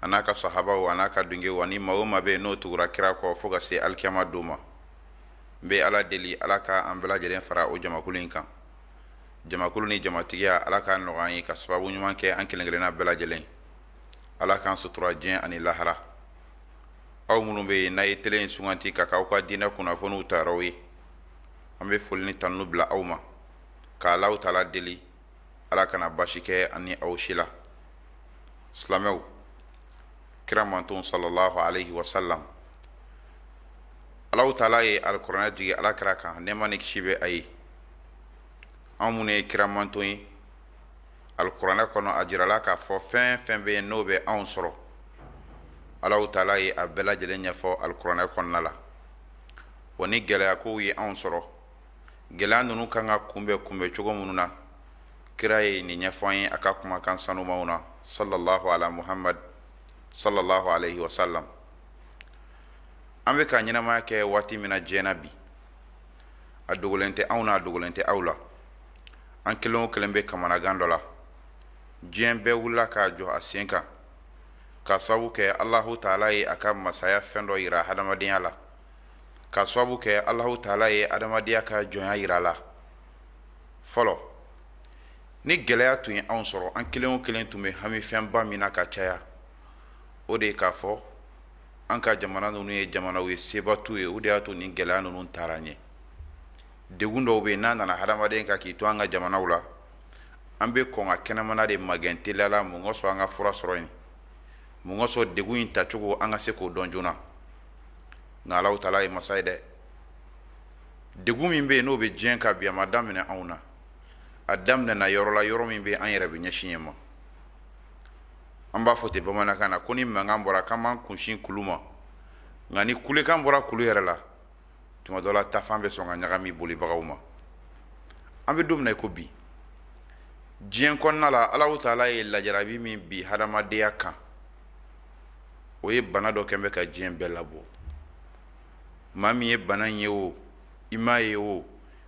a n'a ka sahabaw a n'a ka dungew ani maa o maa bɛ yen n'o tugura kira kɔ fo ka se alikiyama don ma n bɛ ala deli ala ka an bɛɛ lajɛlen fara o jamakulu in kan jamakulu ni jamatigiya ala k'a nɔgɔya an ye ka sababu ɲuman kɛ an kelen-kelenna bɛɛ lajɛlen ala k'an sutura diɲɛ ani lahara aw minnu bɛ yen n'a ye tele in sugandi k'a k'aw ka diinɛ kunnafoniw tayɔrɔ ye an bɛ foli ni tanu bila aw ma k'alahu taala deli ala kana basi kɛ an ni aw si la silamɛw kira mantɔn sallallahu alaihi wasallam ala taala ye alikuranɛ jigin ala ka kira kan nɛɛma ni kisi bɛ a ye anw minnu ye kira mantɔn ye alikuranɛ kɔnɔ a jirala k'a fɔ fɛn fɛn bɛ yen n'o bɛ anw sɔrɔ ala taala ye a bɛɛ lajɛlen ɲɛfɔ alikuranɛ kɔnɔna la wa ni gɛlɛyakow ye anw sɔrɔ gɛlɛya ninnu kan ka kunbɛn kunbɛn cogo minnu na kira ye nin ɲɛfɔ an ye a ka kumakan sanumanw na sallallahu ala muhammad sallallahu alaihi wasallam an bɛ ka ɲɛnamaya kɛ waati min na diɲɛ na bi a dogolen tɛ anw na a dogolen tɛ aw la an kelen o kelen bɛ kamanagan dɔ la diɲɛ bɛɛ wulila k'a jɔ a sen kan k'a sababu kɛ alahu taala ye a ka masaya fɛn dɔ yira hadamadenya la ka sababu kɛ Alahu taala ye adamadenya ka jɔnya jira a la fɔlɔ ni gɛlɛya tun ye anw sɔrɔ an kelen o kelen tun bɛ hami fɛnba min na ka caya o de ye k'a fɔ an ka jamana ninnu ye jamanaw ye seba t'u ye o de y'a to ni gɛlɛya ninnu taara ɲɛ degun dɔw bɛ yen n'a nana hadamaden kan k'i to an ka jamanaw la an bɛ kɔn ka kɛnɛmana de magɛn teliya la mun kosɔn an ka fura sɔrɔ yen mun kosɔn degun in tacogo an ka se k'o dɔn joona nka alahu taala ye masa ye dɛ degun min bɛ yen n'o bɛ diɲɛ kan bi a ma daminɛ anw na a daminɛna yɔrɔ la yɔrɔ min bɛ yen an yɛrɛ bɛ ɲɛsin yen ma an b'a fɔ ten bamanankan na ko ni mankan bɔra k'an b'an kunsin kulu ma nka ni kulekan bɔra kulu yɛrɛ la tuma dɔ la taafan bɛ sɔn ka ɲagami bolibagaw ma an bɛ don min na i ko bi diɲɛ kɔnɔna la alahu taala ye lajarabi min bin hadamadenya kan o ye bana dɔ kɛ min bɛ ka diɲɛ bɛɛ labɔ maa min ye bana ye o i m'a ye o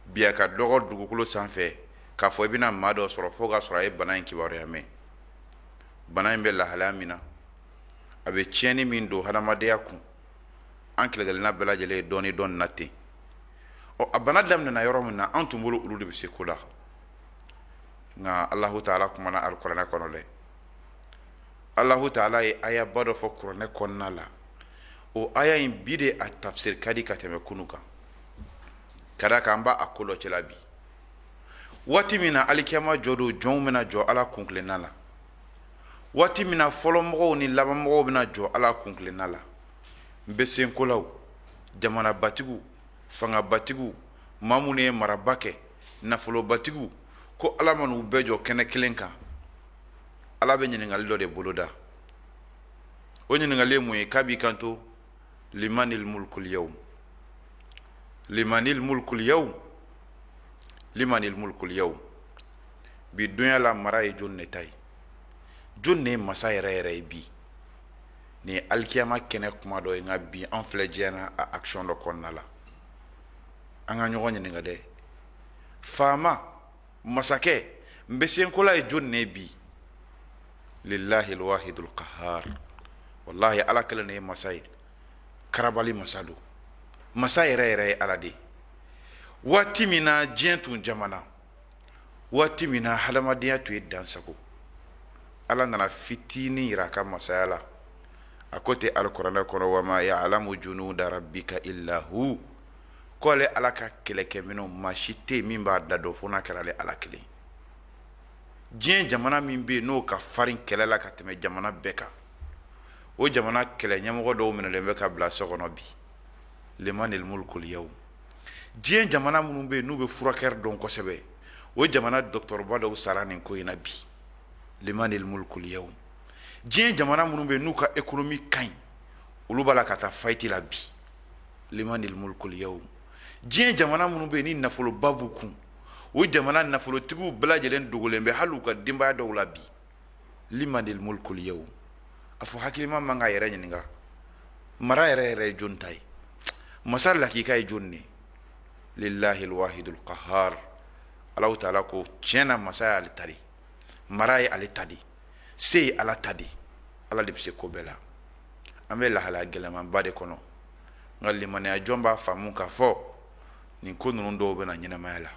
bi a ka dɔgɔ dugukolo sanfɛ k'a fɔ i bɛna maa dɔ sɔrɔ fo k'a sɔrɔ a ye bana in kibaruya mɛn bana in bɛ lahalaya min na a bɛ tiɲɛni min don hadamadenya kun an kelen-kelenna bɛɛ lajɛlen ye dɔɔnin dɔn a la ten ɔ a bana daminɛna yɔrɔ min na an tun bolo olu de bɛ se ko la nka alahu taala kumana alikuranɛ kɔnɔ dɛ Alahu taala ye ayaba dɔ fɔ kuranɛ kɔnɔna la o aya in bi de a tafsiri ka di ka tɛmɛ kunu kan ka d'a kan an b'a ko dɔ cɛla bi waati min na alikiyama jɔ don jɔnw bɛna jɔ ala kuntilenna la waati min na fɔlɔmɔgɔw ni labanmɔgɔw bɛna jɔ ala kuntilenna la nbɛsenkolaw jamanabatigiw fangabatigiw maa minnu ye maraba kɛ nafolobatigiw ko ala man'u bɛɛ jɔ kɛnɛ kelen kan ala bɛ ɲininkali dɔ de boloda o ɲininkali ye mun ye k'a b'i kanto limanil mulkul yawm limanil mulkul yawm limanil mulkul yawm bi donya la mara ye jɔni de ta ye jɔni de ye masa yɛrɛ yɛrɛ ye bi nin alikiyama kɛnɛ kuma don nka bi an filɛ diɲɛ na a action dɔ kɔnɔna la an ka ɲɔgɔn ɲininka dɛ faama masakɛ nbɛsenkola ye jɔn ne bi lillahi alwahidul qahhar wallahi ala kelen ne ye masa ye karabali masa don masa yɛrɛ yɛrɛ ye ala de ye waati min na diɲɛ tun jamana waati min na hadamadenya tun ye dansago ala nana fitinin yira a ka masaya la a ko ten alikuranɛ kɔnɔ wama ya'lamu junuda rabbika illa hu ko ale ala ka kɛlɛkɛminɛnw maa si tɛ min b'a da dɔn fo n'a kɛra ale ala kelen diɲɛ jamana min bɛ yen n'o ka farin kɛlɛ la ka tɛmɛ jamana bɛɛ kan o jamana kɛlɛ ɲɛmɔgɔ dɔw minɛlen bɛ ka bila so kɔnɔ bi limanil mulkul yawm diɲɛ jamana minnu bɛ yen n'u bɛ furakɛri dɔn kosɛbɛ o jamana dɔgɔtɔrɔba dɔw sara nin ko in na bi limanil mulkul yawm diɲɛ jamana minnu bɛ yen n'u ka ekonomi ka ɲi olu b'a la ka taa faillite la bi limanil mulkul yawm diɲɛ jamana minnu bɛ yen ni nafoloba b'u kun o jamana nafolotigiw bɛɛ lajɛlen dogolen bɛ hali u ka denbaya dɔw la bi limanil mulkul yawm a fɔ hakilima ma a k'a yɛrɛ ɲininka mara yɛrɛ yɛrɛ ye jɔn ta ye masa lakika ye jɔn ne lillahi alwahidul qahhar Alahu taala ko tiɲɛ na masaya ale ta de mara ye ale ta de se ye ala ta de ala de bɛ se ko bɛɛ la an bɛ lahalaya gɛlɛnmanba de kɔnɔ nka limaniya jɔn b'a faamu k'a fɔ nin ko ninnu dɔw bɛ na ɲɛnamaya la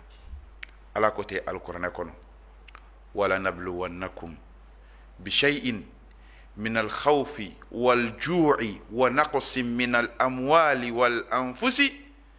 ala ko ten alikuranɛ kɔnɔ wala nabluwannakum bishay'in min alkhawfi walju'i wa naqsin min alamwali walanfusi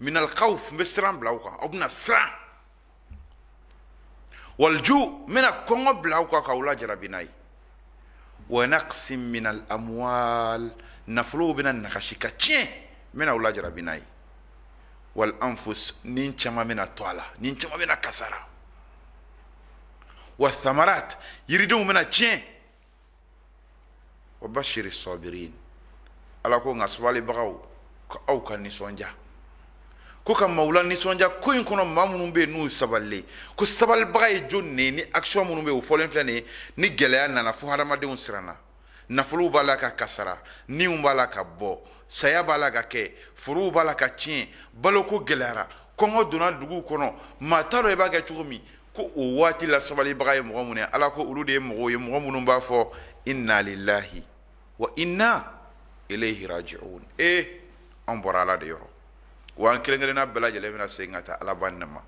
minal khawf n bɛ siran bila aw kan aw bɛna siran walju n bɛna kɔngɔ bila aw kan k'aw lajarabi n'a ye wa naqsin minal amwal nafolow bɛna nagasi ka tiɲɛ n bɛna aw lajarabi n'a ye wal anfus ni caman bɛna to a la ni caman bɛna kasara wa thamarat yiridenw bɛna tiɲɛ wa basiri sɔbirin ala ko n ka sabalibagaw ko aw ka nisɔndiya ko ka maaw lanisɔndiya ko in kɔnɔ maa minnu bɛ yen n'u sabalilen ko sabalibaga ye jɔni ye ni akisiyɔn minnu bɛ yen o fɔlen filɛ nin ye ni gɛlɛya nana fo hadamadenw siranna nafolow b'a la ka kasara niw b'a la ka bɔ saya b'a la ka kɛ forow b'a la ka tiɲɛ baloko gɛlɛyara kɔngɔ donna duguw kɔnɔ maa t'a dɔn i b'a kɛ cogo min ko o waati la sabalibaga ye mɔgɔ minnu ye ala ko olu de ye mɔgɔw ye mɔgɔ minnu b'a fɔ inna lillahi wa inna ilayhi raji'un an bɔra ala de yɔrɔ wa an kelen kelenna bɛɛ lajɛlen bɛna segin ka taa alaba nin ma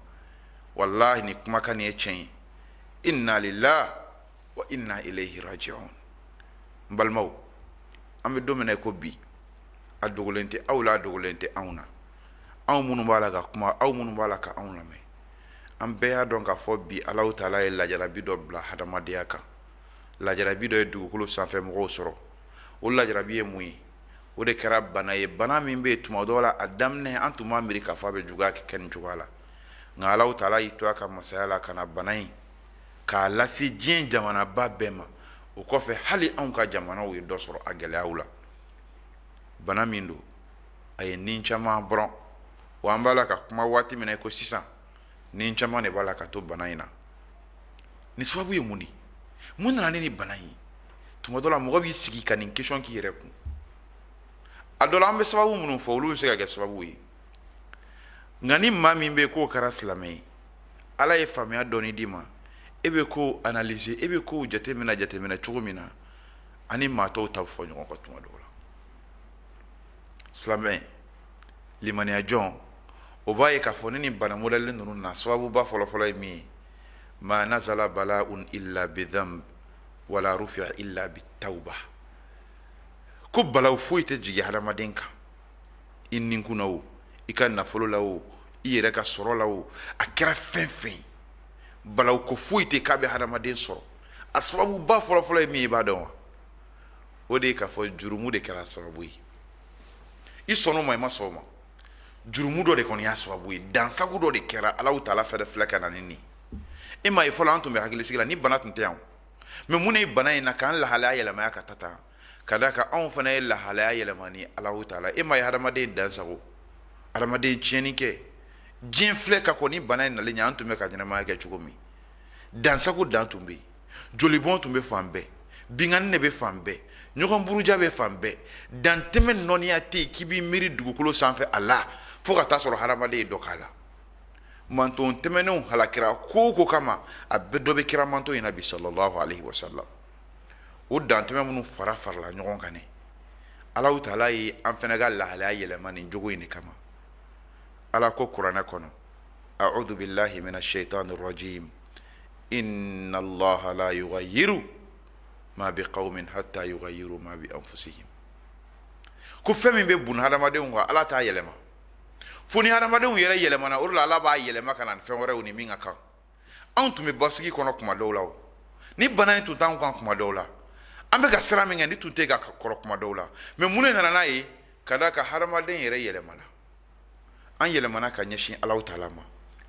walahi nin kumakan nin ye tiɲɛ ye inna lillahi wa inna ilayhi raji'un n balimaw an bɛ don min na i ko bi a dogolen tɛ aw la a dogolen tɛ anw na anw minnu b'a la ka kuma aw minnu b'a la ka anw lamɛn an bɛɛ y'a dɔn k'a fɔ bi alahu taala ye lajarabi dɔ bila hadamadenya kan lajarabi dɔ ye dugukolo sanfɛ mɔgɔw sɔrɔ o lajarabi ye mun ye o de kɛra bana ye bana min bɛ yen tuma dɔ la a daminɛ an tun m'a miiri k'a fɔ a bɛ juguya kɛ nin cogoya la nka alahu taala y'i to a ka masaya la ka na bana in k'a lase diɲɛ jamanaba bɛɛ ma o kɔfɛ hali anw ka jamanaw ye dɔ sɔrɔ a gɛlɛyaw la bana min don a ye ni caman bɔrɔn wa an b'a la ka kuma waati min na i ko sisan ni caman de b'a la ka to bana in na nin sababu ye mun de mun nana ni nin bana in ye tuma dɔ la mɔgɔ b'i sigi ka nin kesiyɔn k'i yɛrɛ kun a dɔ la an bɛ sababu minnu fɔ olu bɛ se ka kɛ sababu ye nka ni maa min bɛ yen k'o kɛra silamɛ ye ala ye faamuya dɔɔni d'i ma e bɛ ko analyse e bɛ kow jateminɛ jateminɛ cogo min na ani maa tɔw ta bɛ fɔ ɲɔgɔn kɔ tuma dɔw la silamɛ limaniya jɔn o b'a ye k'a fɔ ni nin bana mɔdɛli ninnu na sababuba fɔlɔfɔlɔ ye min ye ma nazala bala'un illa bidhanb wala rufi'a illa bitawba ko balawu foyi tɛ jigin hadamaden kan i ninkun na o i ka nafolo la o i yɛrɛ ka sɔrɔ la o a kɛra fɛn fɛn ye balawuko foyi tɛ k'a bɛ hadamaden sɔrɔ a sababuba fɔlɔfɔlɔ ye min ye i b'a dɔn wa o de ye k'a fɔ jurumu de kɛra sababu ye i sɔnna o ma i ma sɔn o ma jurumu dɔ de kɔni y'a sababu ye dansago dɔ de kɛra alahu taala fɛnɛ filɛ ka na ni nin ye i m'a ye fɔlɔ an tun bɛ hakilisigi la nin bana tun tɛ yan mɛ mun ne ye bana in na k'an lahalaya yɛlɛmaya ka ta tan ka d'a kan anw fana ye lahalaya yɛlɛma ni alahu taala ye i m'a ye hadamaden dansago hadamaden tiɲɛni kɛ diɲɛ filɛ ka kɔn nin bana in nalen ɲɛ an tun bɛ ka ɲɛnamaya kɛ cogo min dansago dan tun bɛ yen jolibɔn tun bɛ fan bɛɛ binkanni de bɛ fan bɛɛ ɲɔgɔn buruja bɛ fan bɛɛ dantɛmɛ nɔniya tɛ yen k'i b'i miiri dugukolo sanfɛ a la fo ka taa sɔrɔ hadamaden ye dɔ k'a la manton tɛmɛnenw halakira ko o ko kama a bɛɛ dɔ bɛ kira manton in na bi sallallahu alaihi wasallam o dantɛmɛ minnu fara farala ɲɔgɔn kan ne alahu taala ye an fana ka lahalaya yɛlɛma nin jogo in de kama ala ko kuranɛ kɔnɔ a'udhu billahi minash shaitani rajim inna allaha la yughayyiru ma biqaumin hatta yughayyiru ma bi anfusihim ko fɛn min bɛ bon hadamadenw kan ala t'a yɛlɛma fo ni hadamadenw yɛrɛ yɛlɛmana o de la ala b'a yɛlɛma ka na fɛn wɛrɛw ni min ka kan anw tun bɛ basigi kɔnɔ kuma dɔw la ni bana in tun t'anw kan kuma dɔw la an bɛ ka siran min kɛ ni tun tɛ ka kɔrɔ kuma dɔw la mais mun de nana n'a ye ka da a kan hadamaden yɛrɛ yɛlɛmana an yɛlɛmana ka ɲɛsin alahu taala ma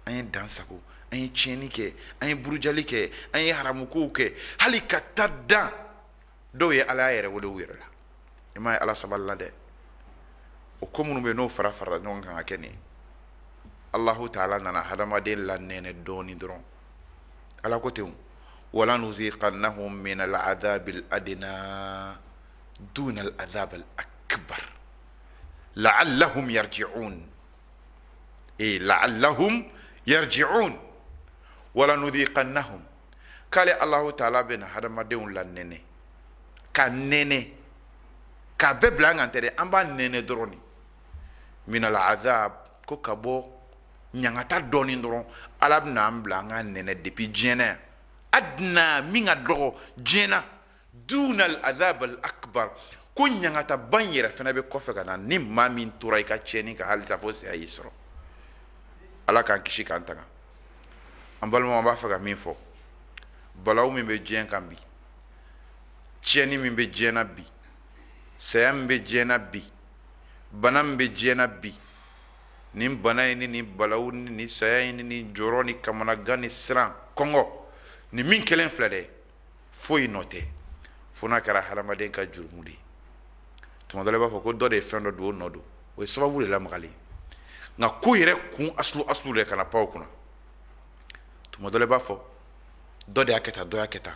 an ye dansago an ye tiɲɛni kɛ an ye burujali kɛ an ye haramukow kɛ hali ka taa dan dɔw ye alaya yɛrɛ wele u yɛrɛ la i m'a ye ala sabalila dɛ o ko minnu bɛ n'o fara farala ɲɔgɔn kan ka kɛ nin alahu taala nana hadamaden lanɛnɛ dɔɔni dɔrɔn ala ko ten wala nuziqannahum min al'adhabi al'adna duna al'adhab al'akbar la'allahum yarji'un e la'allahum yarji'un wala nudhiqannahum k'ale alahu taala bɛna hadamadenw lanɛnɛ k'a nɛnɛ k'a bɛɛ bila an kan tɛ dɛ an b'a nɛnɛ dɔrɔn de minal azab ko ka bɔ ɲangata dɔɔni dɔrɔn ala bɛna an bila an k'a nɛnɛ depuis diɲɛ na yan adna min ka dɔgɔ diɲɛ na dunal azab al akbar ko ɲangataba yɛrɛ fana bɛ kɔfɛ ka na ni maa min tora i ka tiɲɛni kan halisa fo saya y'i sɔrɔ ala k'an kisi k'an tanga an balimaw an b'a fɛ ka min fɔ balawu min bɛ diɲɛ kan bi tiɲɛni min bɛ diɲɛ na bi saya min bɛ diɲɛ na bi bana min bɛ diɲɛ na bi nin bana in ni nin balawu ni nin saya in ni nin jɔrɔ ni kamanagan ni siran kɔngɔ nin min kelen filɛ dɛ foyi nɔ tɛ fo n'a kɛra hadamaden ka jurumu de ye tuma dɔ la i b'a fɔ ko dɔ de ye fɛn dɔ don o nɔ don o ye sababu de lamagali ye nka ko yɛrɛ kun asulu asulu de kana pan o kunna tuma dɔ la i b'a fɔ dɔ de y'a kɛ tan dɔ y'a kɛ tan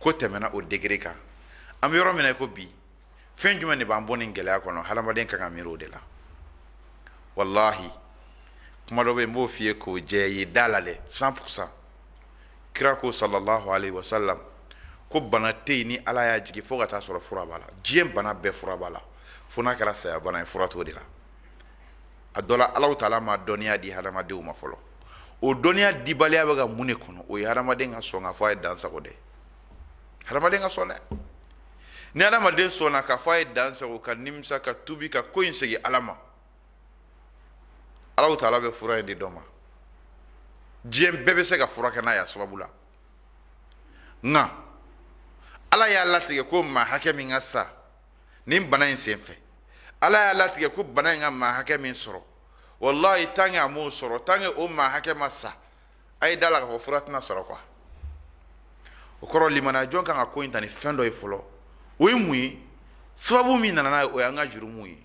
ko tɛmɛna o degré kan an bɛ yɔrɔ min na i ko bi fɛn jumɛn de b'an bɔ nin gɛlɛya kɔnɔ hadamaden kan ka miiri o de la walahi kuma dɔ bɛ yen n b'o f'i ye k'o jɛ ye da la dɛ 100 pour 100 kira ko sallallahu alaihi wasallam ko bana tɛ yen ni ala y'a jigin fo ka taa sɔrɔ fura b'a la diɲɛ bana bɛɛ fura b'a la fo n'a kɛra saya bana ye fura t'o de la a dɔ la ala taala ma dɔnniya di hadamadenw ma fɔlɔ o dɔnniya dibaliya bɛ ka mun de kɔnɔ o ye hadamaden ka sɔn k'a fɔ a ye dansago dɛ hadamaden ka sɔn dɛ ni hadamaden sɔnna k'a fɔ a ye dansago ka nimisa ka tubi ka ko in segin ala ma ala taala bɛ fura in di dɔ ma diɲɛ bɛɛ bɛ se ka furakɛ n'a y'a sababu la nka ala y'a latigɛ ko maa hakɛ min ka sa nin bana in sen fɛ ala y'a latigɛ ko bana in ka maa hakɛ min sɔrɔ walayi tant que a m'o sɔrɔ tant que o maa hakɛ ma sa a ye da la k'a fɔ fura tɛna sɔrɔ quoi o kɔrɔ limaniya jɔn kan ka ko in ta ni fɛn dɔ ye fɔlɔ o ye mun ye sababu min nana n'a ye o y'an ka jurumuw ye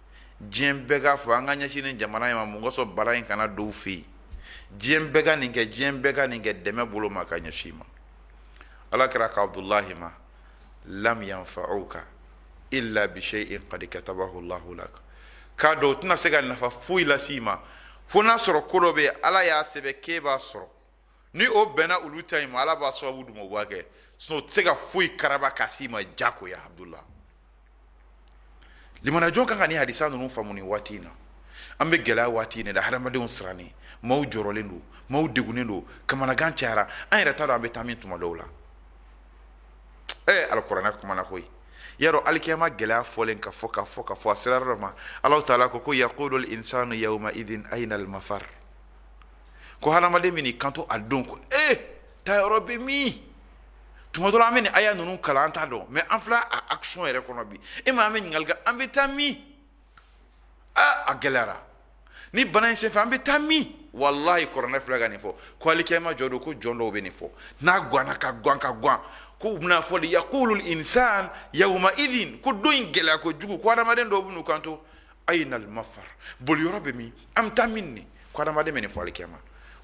diɲɛ bɛɛ k'a fɔ an ka ɲɛsin nin jamana in ma mun kosɔn bala in kana don u fɛ yen diɲɛ bɛɛ ka nin kɛ diɲɛ bɛɛ ka nin kɛ dɛmɛ bolo ma ka ɲɛsin i ma ala kira ko abudulahi ma lam yanfa'uka illa bi shay'in qad katabahu Allahu lak k'a dɔn u tɛna se ka nafa foyi lase i ma fo n'a sɔrɔ ko dɔ bɛ yen ala y'a sɛbɛn k'e b'a sɔrɔ ni o bɛnna olu ta in ma ala b'a sababu d'u ma o b'a kɛ sinon o tɛ se ka foyi karaba ka s'i ma jagoya abudulahi limaniya jɔn kan ka nin hadisa ninnu faamu nin waati in na an bɛ gɛlɛya waati in de la hadamadenw sirannen maaw jɔrɔlen don maaw degunnen don kamanagan cayara an yɛrɛ t'a dɔn an bɛ taa min tuma dɔw la ee alikuranɛ kumana koyi yawmu alkiyama gɛlɛya fɔlen ka fɔ ka fɔ ka fɔ a sera yɔrɔ dɔ ma alahu taala ko ko yaqulul insanu yauma idin aina almafar ko hadamaden bɛna i kanto a don ko ee taayɔrɔ bɛ min tuma dɔ la an bɛ nin aya ninnu kalan an t'a dɔn mais an filɛ a action yɛrɛ kɔnɔ bi e ma an bɛ ɲininkali kɛ an bɛ taa min aa a gɛlɛyara nin bana in senfɛ an bɛ taa min walahi kuranɛ filɛ ka nin fɔ ko alikiyama jɔ don ko jɔn dɔw bɛ nin fɔ n'a ganna ka gan ka gan ko u bɛn'a fɔ de yakulul insan yawuma idin ko don in gɛlɛya kojugu ko hadamaden dɔw bɛ n'u kanto ainal mafar boliyɔrɔ bɛ min an bɛ taa min nin ko adamaden bɛ nin fɔ alikiyama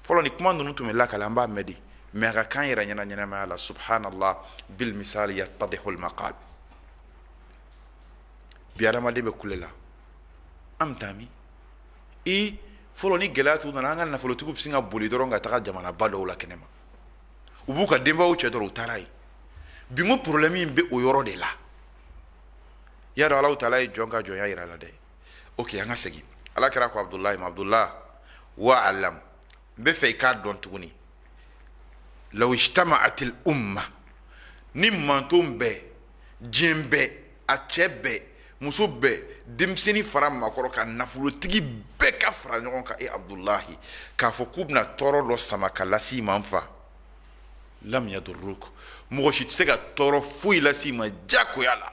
fɔlɔ ni kuma ninnu tun bɛ lakale an b'a mɛn de mais a ka k'an yɛrɛ ɲɛ na ɲɛnamaya la subhanallah bil misali yattadihul maqal bi adamaden bɛ kule la an bɛ taa min i fɔlɔ ni gɛlɛya tun nana an ka nafolotigiw bɛ sin ka boli dɔrɔn ka taga jamanaba dɔw la kɛnɛma u b'u ka denbayaw cɛ dɔrɔn u taara yen bi n ko problème in bɛ o yɔrɔ de la y'a dɔn alahu taala ye jɔn ka jɔnya jira a la dɛ okay, an ka segin ala kira ko abudulayi ma abudulayi wa alam n b'a fɛ i k'a dɔn tuguni law ijtama'atil umma ni manton bɛɛ diɲɛ bɛɛ a cɛ bɛɛ muso bɛɛ denmisɛnnin fara maakɔrɔ kan nafolotigi bɛɛ ka fara ɲɔgɔn kan e abudulayi k'a fɔ k'u bɛna tɔɔrɔ dɔ sama ka lase i ma n fa lam yadurruk mɔgɔ si tɛ se ka tɔɔrɔ foyi lase i ma diyagoya la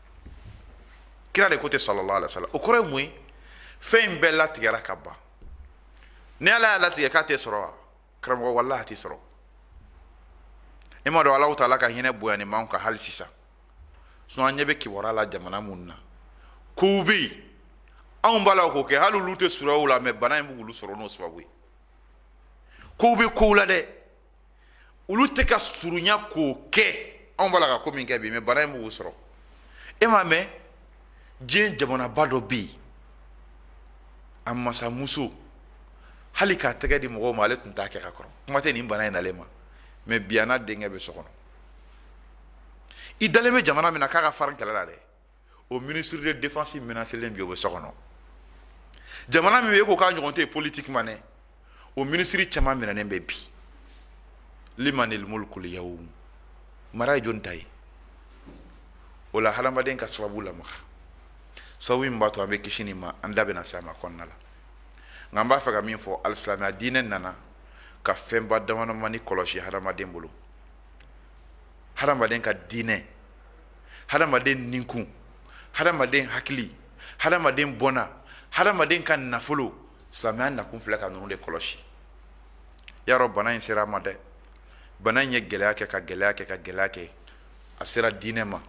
kira de ko ten sallallahu alaihi wasallam o kɔrɔ ye mun ye fɛn in bɛɛ latigɛra ka ban ni ala y'a latigɛ k'a tɛ sɔrɔ wa karamɔgɔ wallahi a t'i sɔrɔ e m'a dɔn alahu taala ka hinɛ bonyanin b'anw kan hali sisan sinon an ɲɛ bɛ kibaruya la jamana minnu na kow bɛ yen anw b'a la k'o kɛ hali olu tɛ surunya o la mais bana in bɛ k'olu sɔrɔ n'o sababu ye kow bɛ kow la dɛ olu tɛ ka surunya k'o kɛ anw b'a la ka ko min kɛ bi mais bana in bɛ k'u sɔrɔ e m'a mɛn diɲɛ jamanaba dɔ bɛ yen a masamuso hali k'a tɛgɛ di mɔgɔw ma ale tun t'a kɛ ka kɔrɔ kuma tɛ nin bana in nalen ma mais bi a n'a denkɛ bɛ so kɔnɔ i dalen bɛ jamana min na k'a ka farin kɛlɛ la dɛ o ministre de défense menacélen bi o bɛ so kɔnɔ jamana min bɛ e ko k'a ɲɔgɔn tɛ yen politiquement dɛ o minisiri caman minɛnen bɛ bi limanil mulkul yawm mara ye jɔni ta ye o la hadamaden ka sababu lamaga sababu min b'a to an bɛ kisi nin ma an da bɛna se a ma kɔnɔna la nka an b'a fɛ ka min fɔ alisilamɛya diinɛ nana ka fɛnba damadamani kɔlɔsi hadamaden bolo hadamaden ka diinɛ hadamaden ninkun hadamaden hakili hadamaden bɔnna hadamaden ka nafolo silamɛya nakun filɛ ka ninnu de kɔlɔsi y'a dɔn bana in sera a ma dɛ bana in ye gɛlɛya kɛ ka gɛlɛya kɛ ka gɛlɛya kɛ a sera diinɛ ma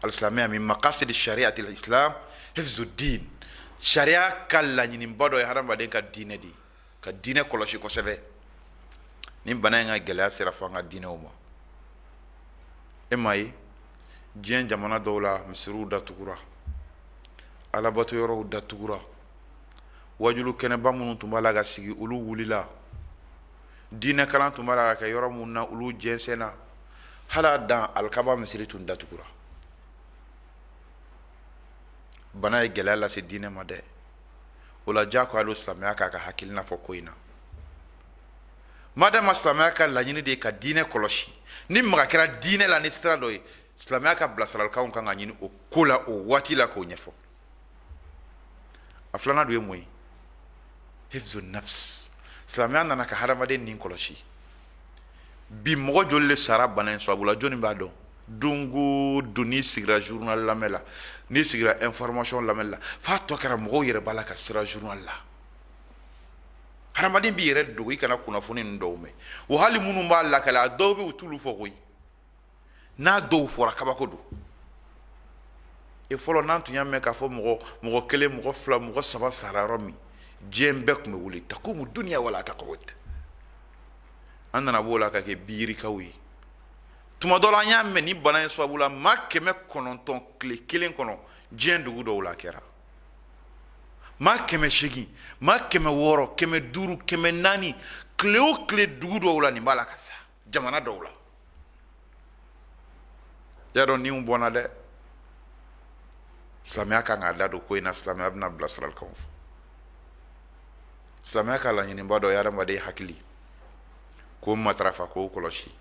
alisilamɛya min maqasid shari'atil islam hifzud diin sariya ka laɲiniba dɔ ye hadamaden ka diinɛ de ye ka diinɛ kɔlɔsi kosɛbɛ ni bana in ka gɛlɛya sera fo an ka diinɛw ma e m'a ye diɲɛ jamana dɔw la misiriw datugura alabato yɔrɔw datugura wajulu kɛnɛba minnu tun b'a la ka sigi olu wulila diinɛ kalan tun b'a la ka kɛ yɔrɔ minnu na olu jɛnsɛnna hali a dan alikaba misiri tun datugura bana ye gɛlɛya lase diinɛ ma dɛ o la diyagoya don silamɛya k'a ka hakilina fɔ ko in na madama silamɛya ka laɲini de ye ka diinɛ kɔlɔsi ni maga kɛra diinɛ la ni sira dɔ ye silamɛya ka bilasiralikanw kan ka ɲini o ko la o waati la k'o ɲɛfɔ a filanan dun ye mun ye hifzu nafs silamɛya nana ka hadamaden nin kɔlɔsi bi mɔgɔ joli le sara bana in sababu la jɔnni b'a dɔn don o don n'i sigira journal lamɛn la n'i sigira information lamɛn la f'a tɔ kɛra mɔgɔw yɛrɛ b'a la ka siran journal la hadamaden b'i yɛrɛ dogo i kana kunnafoni ninnu dɔw mɛn o hali minnu b'a lakale a dɔw bɛ yen u t'olu fɔ koyi n'a dɔw fɔra kabako don e fɔlɔ n'an tun y'a mɛn k'a fɔ mɔgɔ mɔgɔ kelen mɔgɔ fila mɔgɔ saba sara yɔrɔ min diɲɛ bɛɛ tun bɛ wuli takumu duniya wala takudu an nana b'o la ka kɛ biyirikaw ye tuma dɔ la an y'a mɛn ni bana in sababu la maa kɛmɛ kɔnɔntɔn tile kelen kɔnɔ diɲɛ dugu dɔw la a kɛra maa kɛmɛ seegin maa kɛmɛ wɔɔrɔ kɛmɛ duuru kɛmɛ naani tile o tile dugu dɔw la nin b'a la ka sa jamana dɔw la y'a dɔn ni bɔnna dɛ silamɛya kan k'a da don ko in na silamɛya bɛna bilasiralikanw fɔ silamɛya ka laɲiniba dɔ ye hadamaden hakili k'o matarafa k'o kɔlɔsi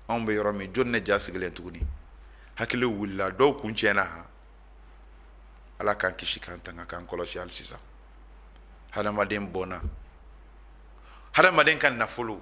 anw bɛ yɔrɔ min jɔn ne ja sigilen tuguni hakili wulila dɔw kun tiɲɛna han ala k'an kisi k'an tanga k'an kɔlɔsi hali sisan hadamaden bɔnna hadamaden ka nafolo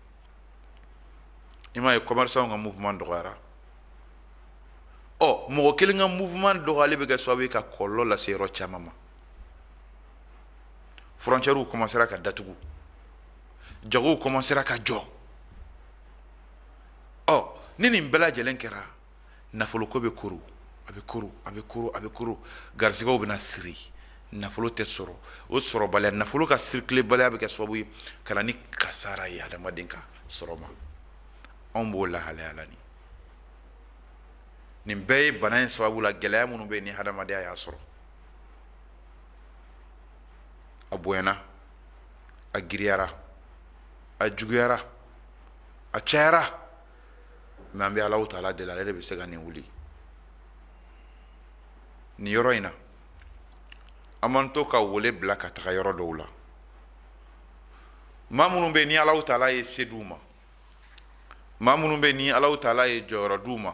i m'a ye commerçant ka mouvement dɔgɔyara ɔ mɔgɔ kelen ka mouvement dɔgɔyali bɛ kɛ sababu ye ka kɔlɔlɔ lase yɔrɔ caman ma frontières commencera ka datugu jagow commencera ka jɔ ɔ ni nin bɛɛ lajɛlen kɛra nafoloko bɛ koro a bɛ koro a bɛ koro a bɛ koro garisigɛw bɛna siri nafolo tɛ sɔrɔ o sɔrɔbaliya nafolo ka circulerbaliya bɛ kɛ sababu ye ka na ni kasara ye hadamaden ka sɔrɔ ma anw b'o lahalaya la nin nin bɛɛ ye bana in sababu la gɛlɛya minnu bɛ ni hadamadenya y'a sɔrɔ a bonyana a giriyara a juguyara a cayara mais an bɛ alahu taala deli ale de bɛ se ka nin wuli nin yɔrɔ in na an man to ka wele bila ka taga yɔrɔ dɔw la maa minnu bɛ ni alahu taala ye se d'u ma maa minnu bɛ ni alahu taala ye jɔyɔrɔ d'u ma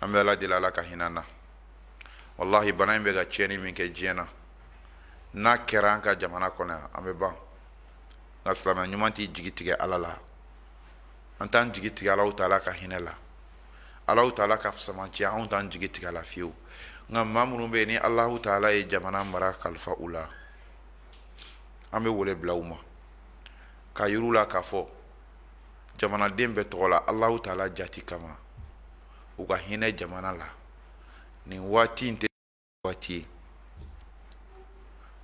an bɛ ala deli ala ka hinɛ an na walahi bana in bɛ ka tiɲɛni min kɛ diɲɛ na n'a kɛra an ka jamana kɔnɔ yan an bɛ ban nka silamɛ ɲuman t'i jigi tigɛ ala la an t'an jigi tigɛ alahu taala ka hinɛ la alahu taala ka samatiya anw t'an jigi tigɛ a la fiyewu nka maa minnu bɛ yen ni alahu taala ye jamana mara kalifa u la an bɛ wele bila u ma k'a yir'u la k'a fɔ jamanaden bɛɛ tɔgɔ la Alahu taala jati kama u ka hinɛ jamana la nin waati in tɛ waati ye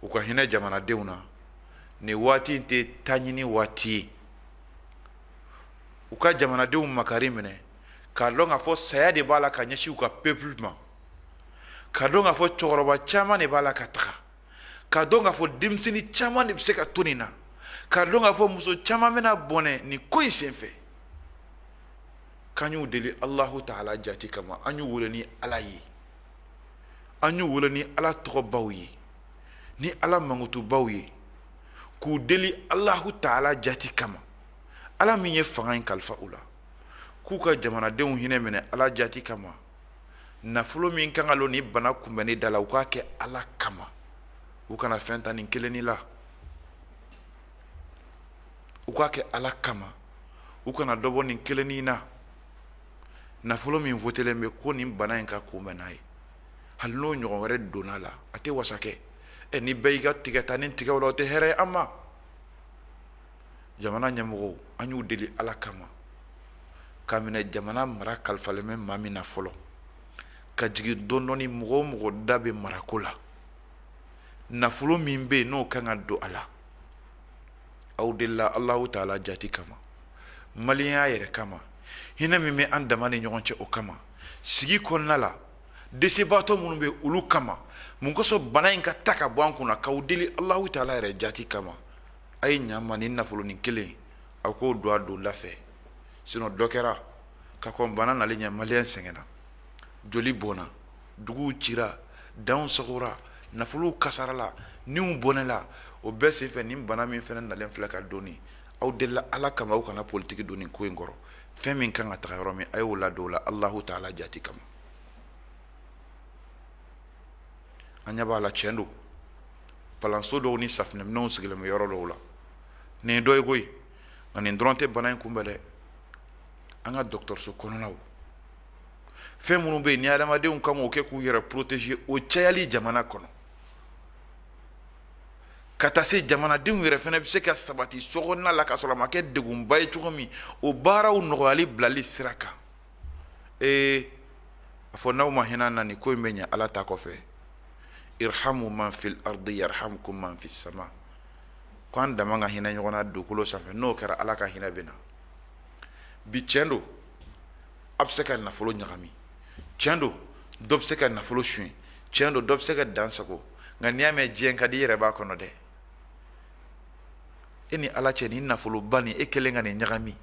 u ka hinɛ jamanadenw na nin waati in tɛ taɲini waati ye u ka jamanadenw makari minɛ k'a dɔn k'a fɔ saya de b'a la ka ɲɛsin u ka peuple ma k'a dɔn k'a fɔ cɛkɔrɔba caman de b'a la ka taga k'a dɔn k'a fɔ denmisɛnnin caman de bɛ se ka to nin na k'a dɔn k'a fɔ muso caman bɛna bɔnɛ nin ko in senfɛ k'an y'u deli alahu taala jati kama an y'u wele ni ala ye an y'u wele ni ala tɔgɔbaw ye ni ala mankutubaw ye k'u deli alahu taala jati kama ala min ye fanga in kalifa u la k'u ka jamanadenw hinɛ minɛ ala jati kama nafolo min kan ka don nin bana kunbɛnni da la u k'a kɛ ala kama u kana fɛn ta nin kelennin la u k'a kɛ ala kama u kana dɔ bɔ nin kelennin na nafolo min votelen bɛ ko nin bana in ka kunbɛn n'a ye hali n'o ɲɔgɔn wɛrɛ donna la a tɛ wasa kɛ ɛ ni bɛɛ y'i ka tigɛtanin tigɛ o la o tɛ hɛrɛ ye an ma jamana ɲɛmɔgɔw an y'u deli ala kama k'a minɛ jamana mara kalifalen bɛ maa min na fɔlɔ ka jigin dɔndɔni mɔgɔ o mɔgɔ da bɛ marako la nafolo min bɛ yen n'o kan ka don a la aw delila alahu taala jati kama maliyɛnya yɛrɛ kama hinɛ min bɛ an dama ni ɲɔgɔn cɛ o kama sigi kɔnɔna la desebaatɔ minnu bɛ olu kama mun kosɔn bana in ka ta ka bɔ an kunna k'aw deli alahu taala yɛrɛ jati kama a ye ɲama nin nafolonin kelen a k'o don a don da fɛ sinon dɔ kɛra ka kɔn bana nali ɲɛ maliyɛn sɛgɛnna joli bɔnna duguw cira danw sagora nafolow kasarala niw bɔnɛla o bɛɛ senfɛ nin bana min fɛnɛ nalen filɛ ka don aw delila ala kama aw kana politiki don nin ko in kɔrɔ fɛn min kan ka taga yɔrɔ min a y'o ladon o la alahu taala jati kama an ɲɛ b'a la tiɲɛ don palanso dɔw ni safinɛminɛnw sigilen bɛ yɔrɔ dɔw la nin ye dɔ ye koyi nka nin dɔrɔn tɛ bana in kunbɛn dɛ an ka dɔgɔtɔrɔso kɔnɔnaw fɛn minnu bɛ yen ni adamadenw kan k'o kɛ k'u yɛrɛ protéger o cayali jamana kɔnɔ ka taa se jamanadenw yɛrɛ fana bɛ se ka sabati sokɔnɔna la ka sɔrɔ a ma kɛ degunba ye cogo min o baaraw nɔgɔyali bilali sira kan ee a fɔ n'aw ma hinɛ na nin ko in bɛ ɲɛ ala ta kɔfɛ irhamu man fil ardi yarhamkum man fis sama ko an dama ka hinɛ ɲɔgɔn na dugukolo sanfɛ n'o kɛra ala ka hinɛ bɛ na bi tiɲɛ don a bɛ se ka nafolo ɲagami tiɲɛ don dɔ bɛ se ka nafolo suɲɛ tiɲɛ don dɔ bɛ se ka dan sagon nka n'i y'a mɛn diɲɛ ka di i yɛrɛ b'a kɔnɔ dɛ e ni ala cɛ nin nafoloba nin e kelen ka nin ɲagami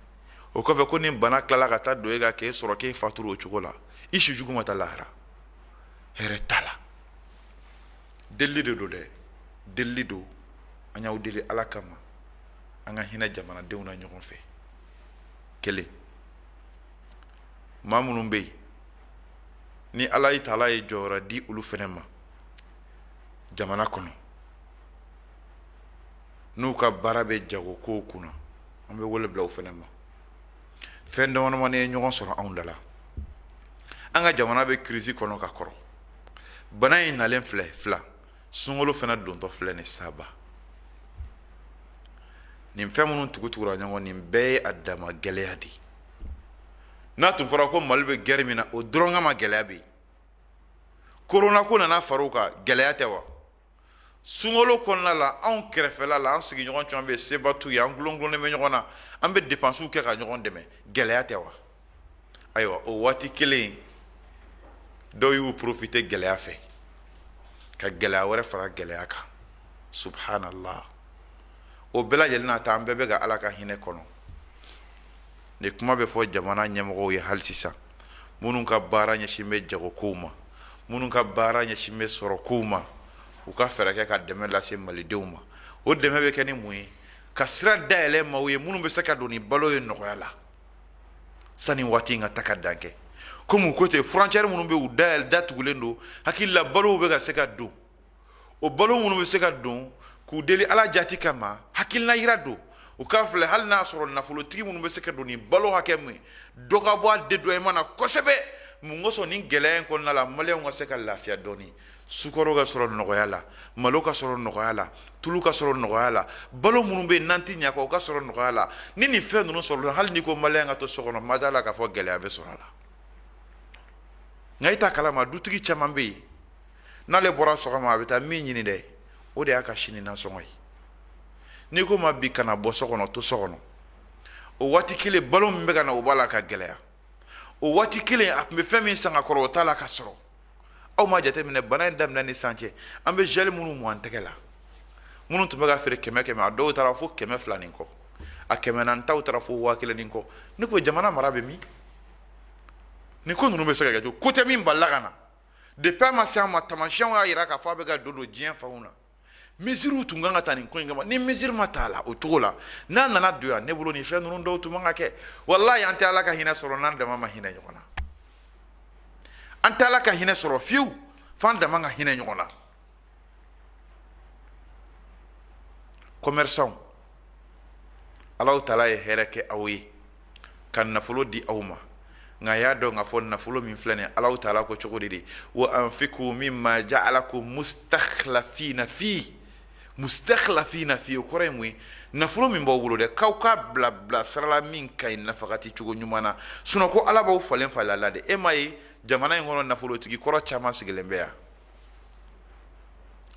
o kɔfɛ ko nin bana tilala ka taa don e kan k'e sɔrɔ k'e faturu o cogo la i si jugu ma taa lahara hɛrɛ t'a la delili de don dɛ delili don an y'aw deli ala kama an ka hinɛ jamanadenw na ɲɔgɔn fɛ kelen maa minnu bɛ yen ni ala yi taala ye jɔyɔrɔ di olu fana ma jamana kɔnɔ n'u ka baara bɛ jagokow kunna an bɛ wele bila u fana ma fɛn damadamanin ye ɲɔgɔn sɔrɔ anw da la an ka jamana bɛ kirisi kɔnɔ ka kɔrɔ bana in nalen filɛ fila sunkalo fana dontɔ filɛ ni saba nin fɛn minnu tugutugura ɲɔgɔn nin bɛɛ ye a dama gɛlɛya de ye n'a tun fɔra ko mali bɛ gɛrɛ min na o dɔrɔn kama gɛlɛya bɛ yen korona ko nana fara o kan gɛlɛya tɛ wa sunkalo kɔnɔna la anw kɛrɛfɛla la an sigiɲɔgɔn caman bɛ seba t'u ye an gulongulonnen bɛ ɲɔgɔn na an bɛ depansiw kɛ ka ɲɔgɔn dɛmɛ gɛlɛya tɛ wa ayiwa o waati kelen dɔw y'u porofite gɛlɛya fɛ ka gɛlɛya wɛrɛ fara gɛlɛya kan subhanallah o bɛɛ lajɛlen n'a ta an bɛɛ bɛ ka ala ka hinɛ kɔnɔ nin kuma bɛ fɔ jamana ɲɛmɔgɔw ye hali sisan minnu ka baara ɲɛsin bɛ jagokow ma minnu ka baara ɲɛsin bɛ sɔrɔkow ma u ka fɛɛrɛ kɛ ka dɛmɛ lase malidenw ma o dɛmɛ bɛ kɛ ni mun ye ka sira dayɛlɛ maaw ye minnu bɛ se ka don ni balo ye nɔgɔya la sani waati in ka ta ka dan kɛ komi u ko ten frontière minnu bɛ u dayɛlɛ datugulen don hakili la balow bɛ ka se ka don o balo minnu bɛ se ka don k'u deli ala jati kama hakilina yira don u k'a filɛ hali n'a sɔrɔ nafolotigi minnu bɛ se ka don ni balo hakɛ min dɔ ka bɔ a dédouanement na kosɛbɛ mun kosɔn nin gɛlɛya in kɔnɔna la maliyɛn ka se ka lafiya dɔɔni sukaro ka sɔrɔ nɔgɔya la malo ka sɔrɔ nɔgɔya la tulu ka sɔrɔ nɔgɔya la balo minnu bɛ yen n'an tɛ ɲɛ kɔ o ka sɔrɔ nɔgɔya la ni nin fɛn ninnu sɔrɔla hali n'i ko maliyɛn ka to so kɔnɔ ma d'a la k'a fɔ gɛlɛya bɛ sɔrɔ a la nka e t'a kalama dutigi caman bɛ yen n'ale bɔra sɔgɔma a bɛ taa min ɲini dɛ o de y'a ka sini nasɔngɔ ye n'i ko ma bi kana bɔ so kɔnɔ to so kɔnɔ o waati kelen balo min bɛ ka na o b'a la ka gɛlɛya o waati kelen a tun bɛ fɛn min san ka kɔrɔ o t'a la ka sɔrɔ aw ma jateminɛ bana in daminɛ ni san cɛ an bɛ gel minnu mu an tɛgɛ la minnu tun bɛ ka feere kɛmɛ kɛmɛ a dɔw taara fo kɛmɛ fila ni kɔ a kɛmɛ naani taw taara fo waa kelen ni kɔ ne ko jamana mara bɛ min nin ko ninnu bɛ se ka kɛ cogo ko tɛ min balila ka na depuis a ma se an ma tamasiyɛnw y'a jira k'a fɔ a bɛ ka don don diɲɛ fanw na mesures tun kan ka ta nin ko in kama ni mesure ma t'a la o cogo la n'a nana don yan ne bolo nin fɛn ninnu dɔw tun man ka kɛ walahi an tɛ ala ka hinɛ sɔrɔ n'an dama ma hinɛ ɲɔgɔn na an tɛ ala ka hinɛ sɔrɔ fiyewu f'an dama ka hinɛ ɲɔgɔn na commerçants Allahu taala ye hɛrɛ kɛ aw ye ka nafolo di aw ma nka y'a dɔn k'a fɔ nafolo min filɛ nin ye Allahu taala ko cogo di dɛ wa anfiku mimma ja'alakum mustakhlafina fi mustakhlafina fi o kɔrɔ ye mun ye nafolo min b'aw bolo dɛ k'aw k'a bila bila sira la min ka ɲi nafagati cogo ɲuman na sinon ko Ala b'aw falen falen a la dɛ e m'a ye jamana in kɔnɔ nafolotigi kɔrɔ caman sigilen bɛ yan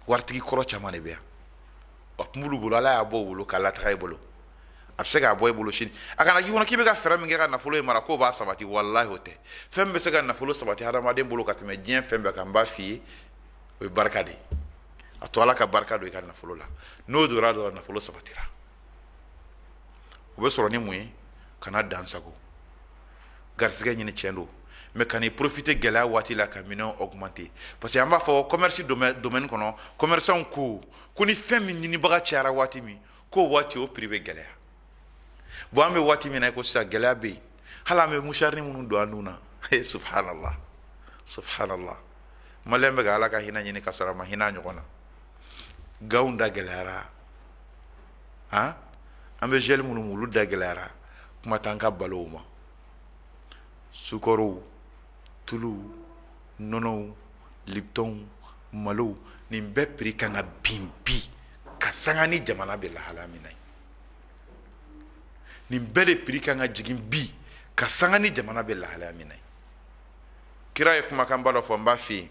waritigi kɔrɔ caman de bɛ yan a tun b'olu bolo ala y'a bɔ u bolo k'a lataga i bolo a bɛ se k'a bɔ i bolo sini a kana k'i kɔnɔ k'i bɛ ka fɛɛrɛ min kɛ ka nafolo in mara k'o b'a sabati walahi o tɛ fɛn min bɛ se ka nafolo sabati hadamaden bolo ka tɛmɛ diɲɛ fɛn bɛɛ kan n b'a f'i ye o ye barika de ye a to ala ka barika don i ka nafolo la n'o donna dɔrɔn nafolo sabatira o bɛ sɔrɔ ni mun ye kana dansago garisɛgɛ ɲini cɛn don mais kan'i profiter gɛlɛya waati la ka minɛn augmenter parce que an b'a fɔ commerce domaine kɔnɔ commerçants ko ko ni fɛn min ɲinibaga cayara waati min k'o waati o prix bɛ gɛlɛya bon an bɛ waati min na ko sisan gɛlɛya bɛ yen hali an bɛ musharini minnu don an nun na subhanallah subhanallah maliyɛn bɛ ka ala ka hinɛ ɲini ka sɔrɔ a ma hinɛ a ɲɔgɔn na gantw da gɛlɛyara an bɛ gel minnu mu olu da gɛlɛyara kuma t'an ka balow ma sukaro tulu nɔnɔw liptonw malow nin bɛɛ prix kan ka bin bi ka sanga ni jamana bɛ lahala min na nin bɛɛ de prix kan ka jigin bi ka sanga ni jamana bɛ lahala min na kira ye kumakanba dɔ fɔ n b'a f'i ye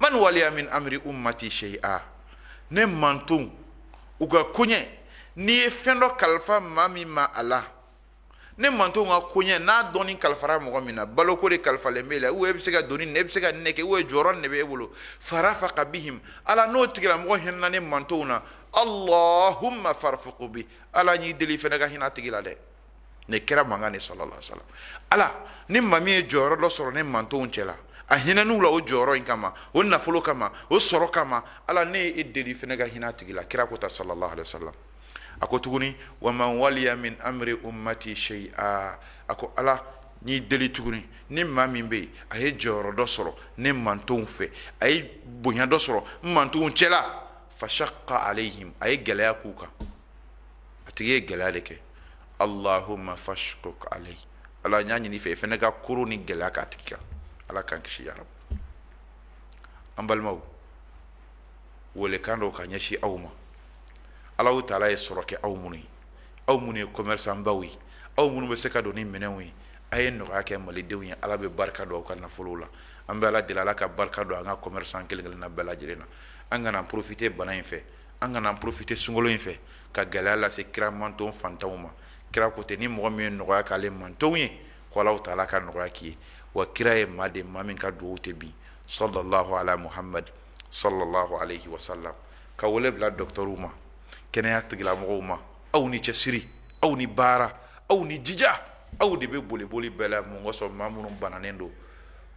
man waliya min amri ummati shay'a ne mantonw u ka koɲɛ n'i ye fɛn dɔ kalifa maa min ma a la ne mantonw ka koɲɛ n'a dɔɔni kalifara mɔgɔ min na baloko de kalifalen b'e la ou e bɛ se ka doni nin e bɛ se ka nin ne kɛ ou jɔyɔrɔ nin de bɛ e bolo farafaka bihim ala n'o tigilamɔgɔ hinɛna ne mantonw na allahumma farfuku bi ala n y'i deli fɛnɛ ka hinɛ a tigi la dɛ ne kira mankan de sallallahu alaihi wasallam ala ni maa min ye jɔyɔrɔ dɔ sɔrɔ ne mantonw cɛla a hinɛn'u la o jɔyɔrɔ in kama o nafolo kama o sɔrɔ kama ala ne ye e deli fɛnɛ ka hinɛ a tigi la kira ko ta sallallahu alaihi wasallam a ko tuguni wa man waliya min amri ummati shay'a a ko ala n'i deli tuguni ni maa min bɛ yen a ye jɔyɔrɔ dɔ sɔrɔ ne mantonw fɛ a ye bonya dɔ sɔrɔ n mantonw cɛla fashaqqa alayhim a ye gɛlɛya k'u kan a tigi ye gɛlɛya de kɛ Allahumma fashquq alayhi ala n y'a ɲini i fɛ i fana ka koron ni gɛlɛya k'a tigi kan ala k'an kisi ya rabu an balimaw welekan dɔw ka ɲɛsin aw ma alahu taala ye sɔrɔ kɛ aw minnu ye aw minnu ye commerçant baw ye aw minnu bɛ se ka don ni minɛnw ye a ye nɔgɔya kɛ malidenw ye ala bɛ barika don aw ka nafolow la an bɛ ala deli ala ka barika don an ka commerçant kelen kelenna bɛɛ lajɛlen na an kana profiter bana in fɛ an kana profiter sunkalo in fɛ ka gɛlɛya lase kira manton fantanw ma kira ko ten ni mɔgɔ min ye nɔgɔya k'ale mantonw ye ko ala taala ka nɔgɔya k'i ye wa kira ye maa de maa min ka dugawu tɛ bin sallallahu ala muhamadu sallallahu alaihi wasallam ka wele bila dɔtɔrɔw ma kɛnɛyaya tigilamɔgɔw ma aw ni cɛsiri aw ni baara aw ni jija aw de bɛ boliboli bɛɛ la mun kosɔn maa minnu bananen don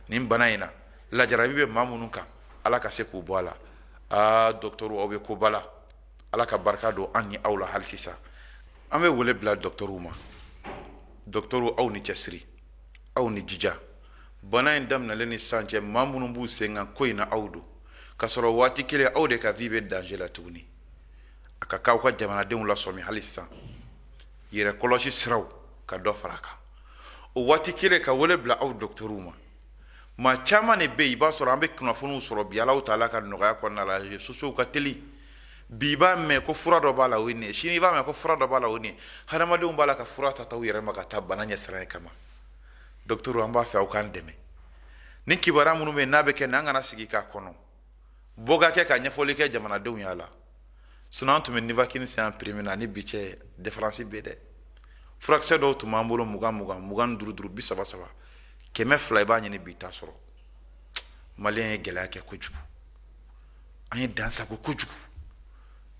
nin bana in na ala jarabi bɛ maa minnu kan ala ka se k'u bɔ a la aa dɔtɔrɔw aw bɛ koba la Ala ka barika don an ni aw la hali sisan an bɛ wele bila dɔgɔtɔrɔw ma dɔgɔtɔrɔw aw ni cɛsiri aw ni jija bana in daminɛlen ni san cɛ maa minnu b'u sen kan ko in na aw don ka sɔrɔ waati kelen aw de ka vie bɛ danger la tuguni a ka kan aw ka jamanadenw lasɔmi hali sisan yɛrɛ kɔlɔsi siraw ka dɔ fara a kan o waati kelen ka wele bila aw dɔgɔtɔrɔw ma maa caman de bɛ i b'a sɔrɔ an bɛ kunnafoniw sɔrɔ bi ala taala ka nɔgɔya kɔnɔna la réseaux sociaux ka teli bi i b'a mɛn ko fura dɔ b'a la o nin sini i b'a mɛn ko fura dɔ b'a la o nin hadamadenw b'a la ka fura ta ta u yɛrɛ ma k'a ta bana ɲɛsiranɲɛ kama dɔtɔrɔw an b'a fɛ aw k'an dɛmɛ ni kibaruya minnu bɛ n'a bɛ kɛ n' an kana sigi k'a kɔnɔ bɔ ka kɛ ka ɲɛfɔli kɛ jamanadenw y'a la sinɔn an tun bɛ nivakini san prix min na ni bi cɛ différence bɛ dɛ furakisɛ dɔw tun b'an bolo mugan mugan mugan duuru duuru bi saba saba kɛmɛ fila i b'a ɲini bi i t'a sɔrɔ maliyɛn ye gɛlɛya kɛ kojugu an ye dansagon kojugu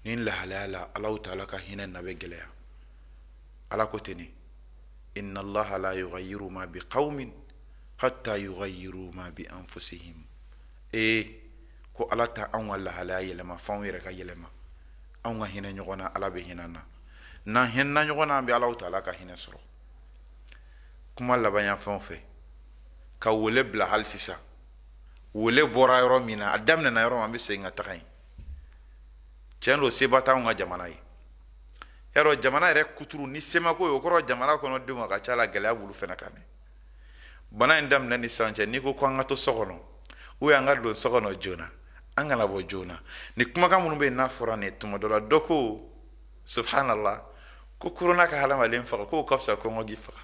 nin lahalaya la ala taala ka hinɛ na bɛ gɛlɛya ala ko ten ne inna allaha la yugayiru ma bi qawmin hatta yugayiru ma bi anfusihim ee ko ala tɛ anw ka lahalaya yɛlɛma fo anw yɛrɛ ka yɛlɛma anw ka hinɛ ɲɔgɔn na ala bɛ hinɛ an na n'an hinɛna ɲɔgɔn na an bɛ ala taala ka hinɛ sɔrɔ kuma laban fan fɛ ka wele bila hali sisan wele bɔra yɔrɔ min na a daminɛna yɔrɔ min an bɛ segin ka taga yen tiɲɛ don seba t'anw ka jamana ye yarɔ jamana yɛrɛ kuturu ni semako ye o kɔrɔ jamana kɔnɔ denw a ka ca la gɛlɛya b'olu fana kan dɛ bana in daminɛ ni sisan cɛ n'i ko ko an ka to so kɔnɔ ubiyɛn an ka don so kɔnɔ joona an kana bɔ joona nin kumakan minnu bɛ yen n'a fɔra nin tuma dɔ la dɔ ko subhanallah ko korona ka hadamaden faga k'o ka fisa kɔngɔ k'i faga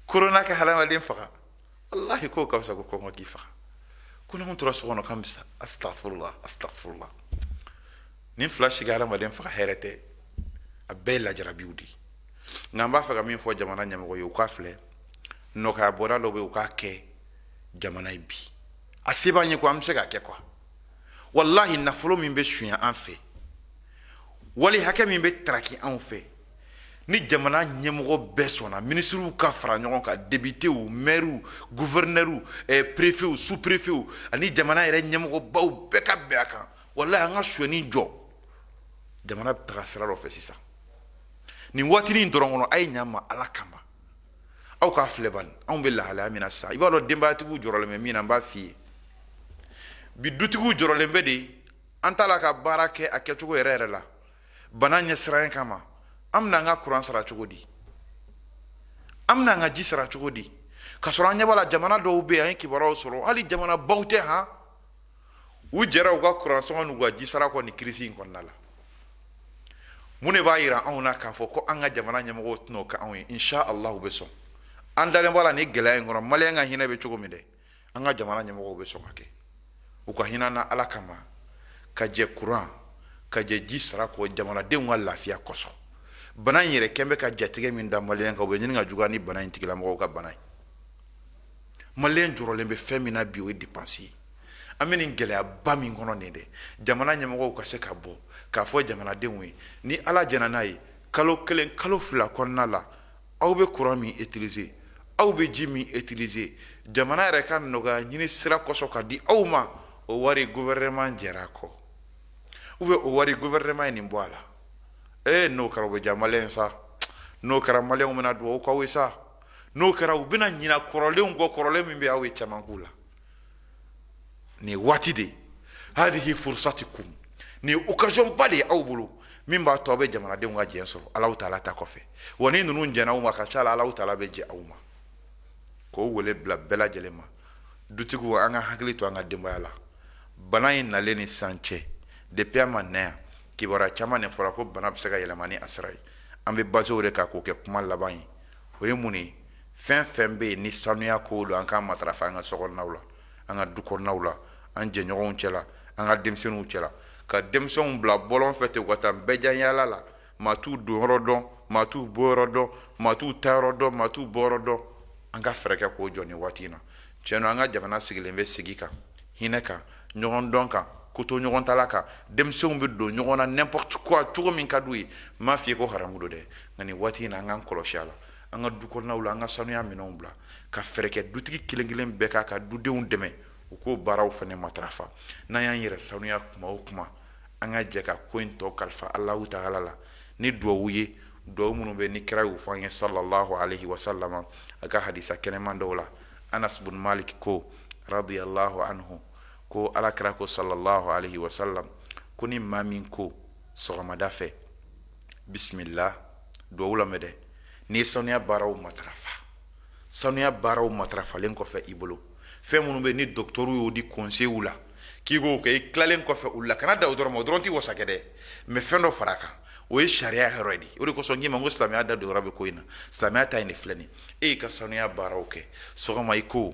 korona ka hadamaden faga walahi k'o ka fisa ko kɔngɔ k'i faga ko n'anw tora so kɔnɔ k'an bɛ sa astafurula astafurula nin fila si ka hadamaden faga hɛrɛ tɛ a bɛɛ ye lajarabiw de ye nka n b'a fɛ ka min fɔ jamana ɲɛmɔgɔw ye u k'a filɛ nɔgɔya bɔda dɔ bɛ u k'a kɛ jamana ye bi a se b'an ye ko an bɛ se k'a kɛ kuwa walahi nafolo min bɛ sunya an fɛ wali hakɛ min bɛ taraki anw fɛ ni jamana ɲɛmɔgɔ bɛɛ sɔnna minisiriw ka fara ɲɔgɔn kan depitew mɛriw guvɛrinɛriw eh, perefew superefew ani jamana yɛrɛ ɲɛmɔgɔbaw bɛɛ ka bɛn a kan walahi an ka sonyani jɔ jamana bɛ taga sira dɔ fɛ sisan nin waatinin in dɔrɔn kɔnɔ a ye ɲa n ma ala kama aw k'a filɛ bani anw bɛ lahalaya min na sisan i b'a dɔn denbayatigiw jɔrɔlen bɛ min na n b'a f'i ye bi dutigiw jɔrɔlen bɛ de an t'a la ka baara kɛ a kɛcogo yɛrɛ yɛrɛ la bana ɲɛsiranya kama an bɛna an ka kuran sara cogo di an bɛna an ka ji sara cogo di ka sɔrɔ an ɲɛ b'a la jamana dɔw bɛ yen an ye kibaruyaw sɔrɔ hali jamanabaw tɛ han u jɛra u ka kuransɔngɔ n'u ka jisara kɔ nin kirisi in kɔnɔna la mun de b'a yira anw na k'a fɔ ko an ka jamana ɲɛmɔgɔw tɛn'o kɛ anw ye insha allah u bɛ sɔn an dalen b'a la nin gɛlɛya in kɔnɔ maliyɛn ka hinɛ bɛ cogo min dɛ an ka jamana ɲɛmɔgɔw bɛ sɔn k'a kɛ u ka hinɛ an na ala kama ka jɛ kuran ka jɛ ji sara kɔ jamanadenw ka lafiya kosɔn bana in yɛrɛ kɛn bɛ ka jatigɛ min da maliyɛn kan o bɛ ɲini ka juguya ni bana in tigilamɔgɔw ka bana ye maliyɛn jɔrɔlen bɛ fɛn min na bi o ye depansi ye an bɛ nin gɛlɛyaba min kɔnɔ nin dɛ jamana ɲɛmɔgɔw ka se ka bɔ k'a fɔ jamanadenw ye ni ala jɛnna n'a ye kalo kelen kalo fila kɔnɔna la aw bɛ kuran min itilize aw bɛ ji min itilize jamana yɛrɛ ka nɔgɔya ɲini sira kosɔn k'a di aw ma o wari gofɛrɛnaman jɛra a kɔ ubiyɛn o wari gofɛrɛnaman ye nin bɔ a la ee n'o kɛra bɛ diya maliyɛn sa n'o kɛra maliyɛnw bɛna dugawu k'aw ye sa n'o kɛra u bɛna ɲina kɔrɔlenw kɔ kɔrɔlen min bɛ aw ye caman la nin waati de hadihi fursatikum nin occasion ba de ye aw bolo min b'a to aw bɛ jamanadenw ka jɛn sɔrɔ alahu taala ta kɔfɛ wa ni ninnu jɛnna aw ma ka ca la alahu taala bɛ jɛn aw ma k'o wele bila bɛɛ lajɛlen ma dutigiw an ka hakili to an ka denbaya la bana in nalen ni sisan cɛ depuis a ma na yan kibaruya caman de fɔra ko bana bɛ se ka yɛlɛma ni a sira ye an bɛ basé o de kan k'o kɛ kuma laban ye o ye mun ye fɛn fɛn bɛ yen ni sanuya ko don an k'a matarafa an ka sokɔnɔnaw la an ka du kɔnɔnaw la an jɛɲɔgɔnw cɛ la an ka denmisɛnninw cɛ la ka denmisɛnw bila bɔlɔn fɛ ten u ka taa bɛɛ yaala la maa t'u don yɔrɔ dɔn maa t'u bɔ yɔrɔ dɔn maa t'u taa yɔrɔ dɔn maa t'u bɔ yɔrɔ dɔn an ka fɛɛrɛ kɛ k'o jɔ nin waati in na tiɲɛ don an ka jamana sigilen bɛ sigi kan hinɛ kan ɲɔgɔn dɔn kan kotoɲɔgɔntala kan denmisɛnw bɛ don ɲɔgɔn na n'importe quoi cogo min ka d'u ye n m'a f'i ye ko haramu don dɛ nka nin waati in na an k'an kɔlɔsi a la an ka du kɔnɔnaw la an ka sanuya minɛnw bila ka fɛɛrɛ kɛ dutigi kelen kelen bɛɛ k'a ka dudenw dɛmɛ u k'o baaraw fana matarafa n'an y'an yɛrɛ sanuya kuma o kuma an ka jɛ ka ko in tɔ kalifa alahu taala la ni duwawu ye duwawu minnu bɛ ni kira y'u fɔ an ye sallallahu alaihi wasallam a ka hadisa kɛnɛman dɔw la anas bun malik ko radiyallahu anhu ko alakira ko sallallahu alaihi wasallam ko ni maa min ko sɔgɔmada fɛ bisimila duwawu lamɛn dɛ n'i ye sanuya baaraw matarafa sanuya baaraw matarafalen kɔfɛ i bolo fɛn minnu bɛ ni dɔgɔtɔrɔw y'o di conseil la k'i k'o kɛ i tilalen kɔfɛ olu la kana dan o dɔrɔn ma o dɔrɔn tɛ wasa kɛ dɛ mais fɛn dɔ fara a kan o ye sariya yɔrɔ ye de o de kosɔn n k'i ma ko silamɛya da don yɔrɔ bɛ ko in na silamɛya ta nin filɛ ni e y'i ka sanuya baaraw kɛ sɔgɔma i ko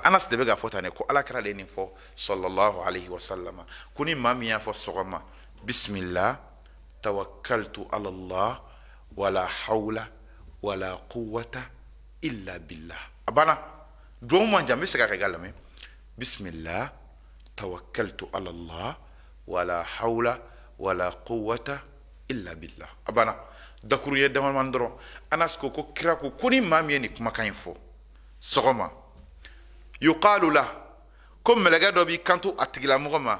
anas de bɛ k'a fɔ tan de ko alakira de ye nin fɔ sallallahu alaihi wasallam ko ni maa min y'a fɔ sɔgɔma bisimila tawakkaltu ala allah wala hawla wala quwwata illa billah a banna duwawu man jan n bɛ segin a kan i k'a lamɛn bisimila tawakkaltu ala allah wala hawla wala quwwata illa billah a banna dakuruɲɛ damadamani dɔrɔn anas ko ko kira ko ko ni maa min ye nin kumakan in fɔ sɔgɔma yuqalu la ko mɛlɛkɛ dɔ b'i kanto a tigilamɔgɔ ma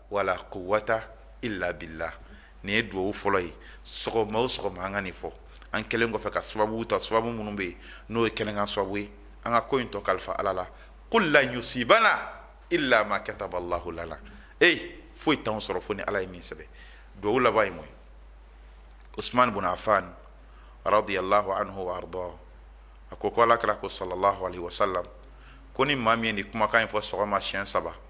wala quwwata illa billah nin ye duwawu fɔlɔ ye sɔgɔma o sɔgɔma an ka nin fɔ an kɛlen kɔfɛ ka sababu ta sababu minnu bɛ yen n'o ye kɛnɛkan sababu ye an ka ko in tɔ kalifa ala la qul lan yusibana illa ma kataba allahu lana foyi t'anw sɔrɔ fo ni ala ye min sɛbɛn duwawu laban ye mun ye usman bun affan radiyallahu anhu wa arda a ko ko alakira ko sallallahu alaihi wasallam ko ni maa min ye nin kumakan in fɔ sɔgɔma siɲɛ saba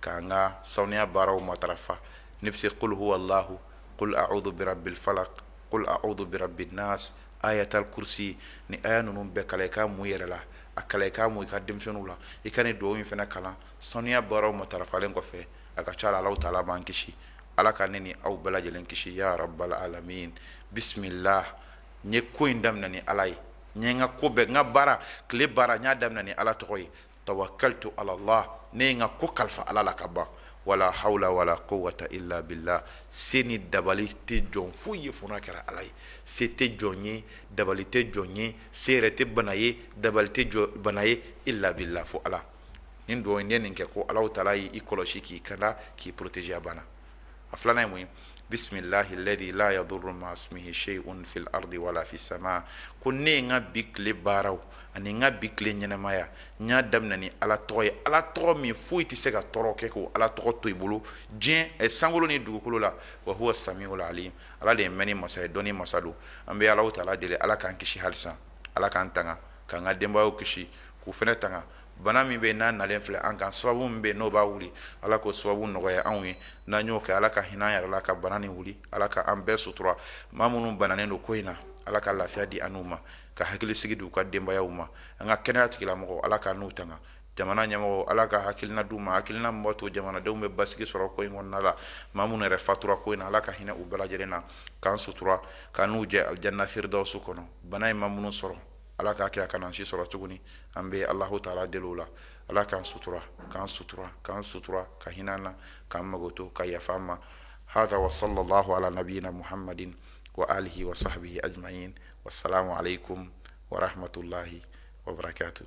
k'an ka saniya baaraw matarafa n'i bɛ se qul huwallahu qul a'udhu birabbil falaq qul a'udhu birabbin nas ayatul kursi ni aya ninnu bɛɛ kalan i k'a mun yɛrɛ la a kalan i k'a mun i ka denmisɛnninw la i ka nin dugawu in fana kalan saniya baaraw matarafalen kɔfɛ a ka ca la ala taala b'an kisi ala ka ne ni aw bɛɛ lajɛlen kisi ya rabbal alamin bisimila n ye ko in daminɛ ni ala ye n n ka ko bɛɛ n ka baara tile baara n y'a daminɛ ni ala tɔgɔ ye tawakkaltu alallah ne ye n ka ko kalifa ala la ka ban wala hawla wala quwwata illa billah se ni dabali tɛ jɔn foyi ye fo n'a kɛra ala ye se tɛ jɔn ye dabali tɛ jɔn ye se yɛrɛ tɛ bana ye dabali tɛ jɔ bana ye illa billah fo ala nin dugawu in n'i ye nin kɛ ko alahu taala y'i kɔlɔsi k'i kanda k'i protéger a bana a filanan ye mun ye bismillahi alladhi la yadurru ma ismihi shay'un fil ardi wala fis sama ko ne ye n ka bi tile baaraw ani n ka bi tile ɲɛnamaya n y'a daminɛ ni ala tɔgɔ ye ala tɔgɔ min foyi tɛ se ka tɔɔrɔ kɛ k'o ala tɔgɔ to i bolo diɲɛ eh, sankolo ni dugukolo la wa huwa samiul alim ala de ye mɛnni masa ye dɔnni masa don an bɛ alahu taala deli ala k'an kisi halisa ala k'an tanga k'an ka denbayaw kisi k'u fɛnɛ tanga bana min bɛ n'a nalen filɛ an kan sababu min bɛ n'o b'a wuli ala k'o sababu nɔgɔya anw ye n'an y'o kɛ ala ka hinɛ an yɛrɛ la ka bana nin wuli ala ka an bɛɛ sutura maa minnu bananen don ko in na ala ka lafiya di an n'u ma ka hakili sigi di u ka denbayaw ma an ka kɛnɛya tigilamɔgɔw ala k'an n'u tanga jamana ɲɛmɔgɔw ala ka hakilina d'u ma hakilina min b'a to jamanadenw bɛ basigi sɔrɔ ko in kɔnɔna la maa minnu yɛrɛ fatura ko in na ala ka hinɛ u bɛɛ lajɛlen na k'an sutura k'an n'u jɛ alijana firdausu kɔnɔ bana in ma minnu sɔrɔ ala k'a kɛ a kana an si sɔrɔ tuguni an bɛ alahu taala deli o la ala k'an sutura k'an sutura k'an sutura ka hinɛ an na k'an makoto ka yafa an ma hada wa sallallahu ala nabiyina muhammadin wa alihi wa sahbihi ajma'in wassalamu alaikum warahmatullahi wabarakatuh